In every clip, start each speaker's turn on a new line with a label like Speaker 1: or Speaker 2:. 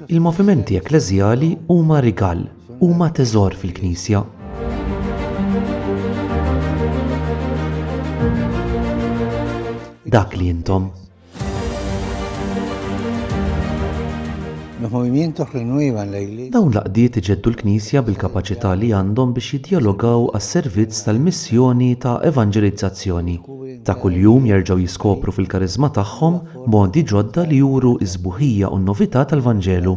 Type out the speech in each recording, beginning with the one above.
Speaker 1: Il-movimenti ekkleżjali huma rigal, huma teżor fil-Knisja. Dak li intom. Dawn l-aqdiet iġeddu l-Knisja bil-kapaċità li għandhom biex jiddjalogaw għas-servizz tal-missjoni ta' evanġelizzazzjoni. ta' kuljum jerġgħu jiskopru fil-kariżma tagħhom modi ġodda li juru s-sbuħija u n-novità tal-Vanġelu.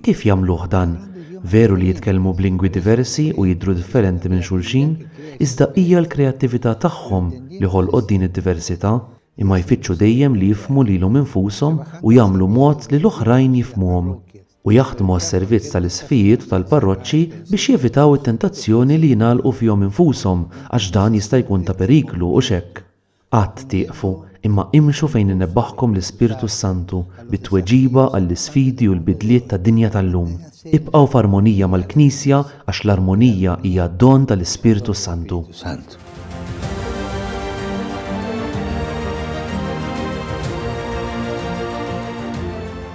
Speaker 1: Kif jagħmluh dan? Veru li jitkellmu b'lingwi diversi u jidhru differenti minn xulxin, iżda hija l-kreattività tagħhom li ħolqot din id-diversità, imma jfittxu dejjem li jifhmu lilhom infushom u jagħmlu mod li l-oħrajn jifhmuhom. u jaħdmu għas-servizz tal-isqfijiet u tal-parroċċi biex jevitaw it-tentazzjoni li jingħalqu fihom infushom għax dan jista' jkun ta' periklu u x'hekk. Qatt tieqfu, imma imxu fejn inebbħkom l-Ispirtu s-Santu bit-tweġiba għall-isfidi u l-bidliet tad-dinja tal-lum. Ibqgħu f'armonija mal-Knisja Għax l-armonija hija don tal-Ispirtu s-Santu.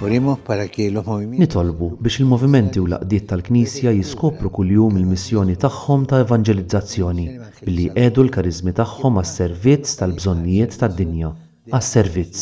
Speaker 1: Nitolbu biex il-movimenti u l-għaqdiet tal-Knisja jiskopru kuljum il-missjoni tagħhom ta' evanġelizzazzjoni billi jqiegħdu l-kariżmi tagħhom għas-servizz tal-bżonnijiet tad-dinja, għas-servizz.